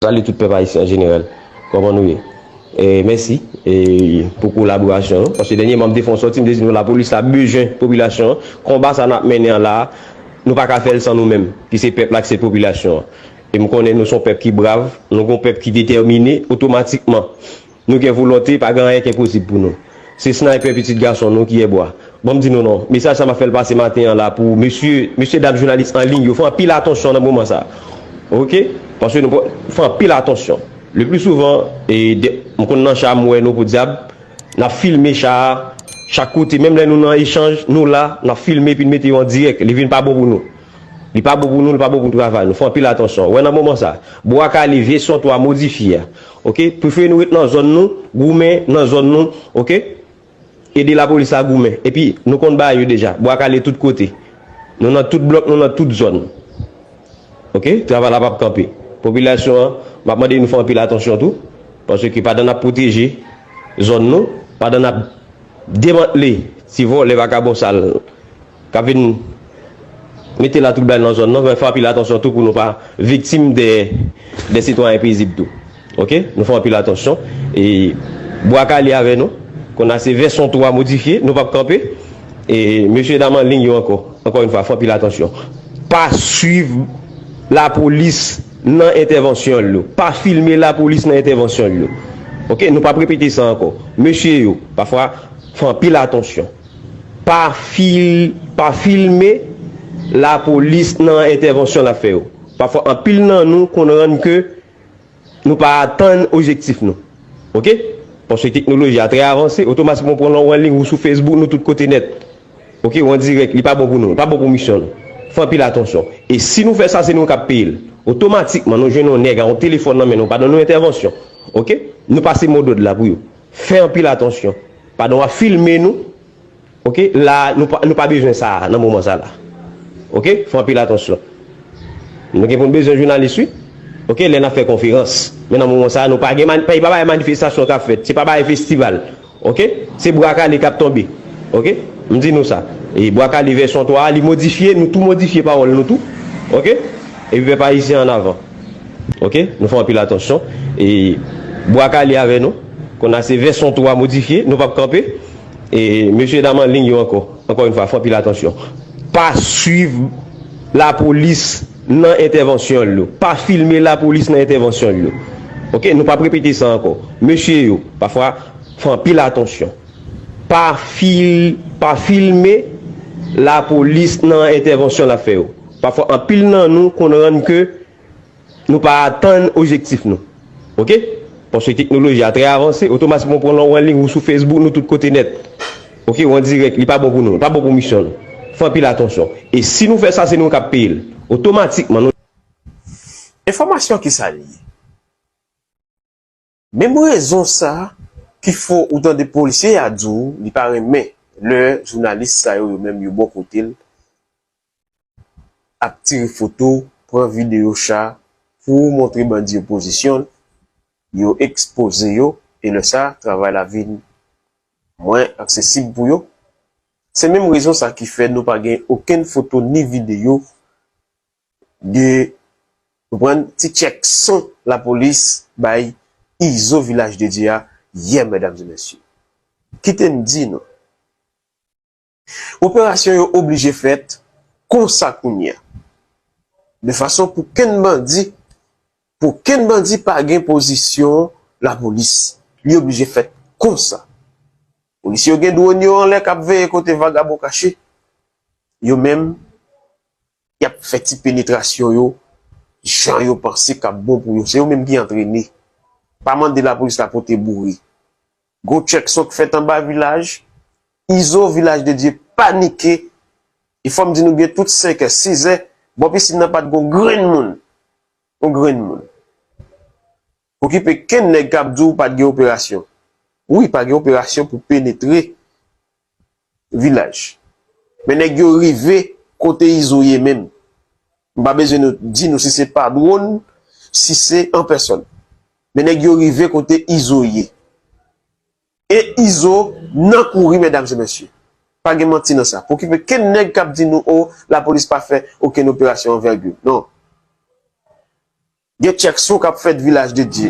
Salut tout pèp ayisyen an jenerèl kòman nou ye e mèsi e pou kolaborasyon nou paske dènye man m te fon sòti m te di nou lapolis la bezwen popilasyon an konba sa nap mennen an la nou pa ka fèl san nou menm ki se pèp la ki se popilasyon an e m konnen nou son pèp ki brav nou gon pèp ki detèmine otomatikman Nou gen volonte, pa gen anyen ki enposib pou nou. Se Sniper pitit gason nou ki Èbwa. Ban m di nou non, mesaj sa m ap fè l pase maten an la pou mesye, mesye dam jounalis an liy yo, fè anpil atansyon nan moman sa. Ok? Paske nou pran, fè anpil atansyon. Le pli souvan, e, de, m konn nan cha m wè nou podyab, n ap filme cha a, chak kote, menm lè nou nan echanj, nou la, n ap filme epi n mete yo an dirèk, li vin pa bon pou nou. Li pa bon pou nou, li pa bon pou travay nou. Fè anpil atansyon. Wè nan moman sa, Bwa Kale, vèsyon 3 modifye a. Ok prefere nou ret nan zòn nou goumen nan zòn nou ok ede lapolis la goumen epi nou konn bagay yo deja bwa kale tout kote nou nan tout blòk nou nan tout zòn ok travay la pap kanpe popilasyon an map mande nou fè anpil atansyon tou paske pandan nap pwoteje zòn nou pandan nap demantle ti vòlè vakabon sal. K ap vin mete latwoublay nan zòn nan, men fè anpil atansyon tou pou nou pa viktim de de sitwayen pezib tou ok nou fè anpil atansyon e bwa kale avè nou konn a se vèsyon 3 modifye nou p ap kanpe e mesye dam anliy yo ankò ankò yn fwa fè anpil atansyon pa swiv lapolis nan entèvansyon l yo pa filme lapolis nan entèvansyon l yo ok nou p ap repete sa ankò mesye yo pafwa fè anpil atansyon Pa filme lapolis nan entèvansyon l ap fè yo. Pafwa anpil nan nou konn rann ke nou pa atenn ojektif nou. Ok. Paske teknoloji a trè avanse, otomatikman ou pran lè w anliy ou sou Facebook nou tout kote nèt. Ok ou an dirèk li pa bon pou nou, li pa bon pou misyon nou. Fè anpil atansyon. E si nou fè sa se nou k ap peye l. Otomatikman nou jwenn yon nèg a yon telefòn nan men l ou pa nan yon entèvansyon. Ok. Nou pase modòd la pou yo. Fè anpil atansyon pandan wap filme nou ok la nou pa bezwen sa nan moman sa la ok fè anpil atansyon nou gen poun bezwen jounalis wi ok lè nap fè konferans men nan moman sa nou pa gen se pa bagay manifestasyon kap fèt se pa bagay festival ok se bwa kale kap tonbe ok m di nou sa e bwa kale vèsyon 3 a li modifye nou tou modifye pawòl nou tou ok epi pèp ayisyen annavan. Ok nou fè anpil atansyon e bwa kale avè nou konn a se vèsyon 3 modifye nou pap kanpe e mesye dam anliy yo ankò ankò yon fwa fè anpil atansyon pa swiv lapolis nan entèvansyon yo pa filme lapolis nan entèvansyon yo ok nou pap repete sa ankò mesye yo pa fwa fè anpil atansyon pa fil pa filme lapolis nan entèvansyon lap fè yo. Pafwa anpil nan nou konn rann ke nou pa atenn ojektif nou. Ok. Paske teknoloji a trè avanse, otomatikman ou pran lè w anliy ou sou Facebook nou tout kote nèt. Ok ou an dirèk li pa bon pou nou, li pa bon pou misyon nou. Fè anpil atansyon. E si nou fè sa se nou kap peye l. Otomatikman nou. Enfòmasyon kisa li ye? Menm rezon sa ki fè ou tande polisye ya di w li pa renmen lè jounalis sa yo yo menm yo bò kote l ap tire foto, pran videyo cha pou montre bandi yo pozisyon yo ekspoze yo e lè sa travay la vin mwen aksesib pou yo. Se menm rezon sa ki fè nou pa gen okenn foto ni videyo de konprann ti tchèk son lapolis bay Izo Vilaj de Dye a yè medam e mesye. Kite m di nou operasyon yo oblije fèt konsa kounye a de fason pou kenn bandi pou kenn bandi pa gen pozisyon lapolis li oblije fèt konsa. Polisye yo gen dwòn yo anlè k ap veye kote vagabon kache yo menm. Y ap fè ti penetrasyon yo jan yo panse k ap bon pou yo. Se yo menm ki antrene. Pa mande lapolis la pote boure. Gwo tchèk sot fèt anba vilaj Izo, Vilaj de Dye panike e fò m di nou byen tout senkè, sizè, bò pisin nan pa t gen yon grenn moun. Yon grenn moun. Okipe kenn nèg kap diw pat gen operasyon wi pa gen operasyon pou penetre vilaj men nèg yo rive kote izo ye menm m pa bezwen nou di nou si se pa dwon si se an pèsòn men nèg yo rive kote izo ye e izo nan kouri mèdam e mèsye pa gen manti nan sa pokipe kenn nèg kap di nou oh lapolis pa fè okenn operasyon anvègil non. Gen chèk sou kap fèt vilaj de Dye.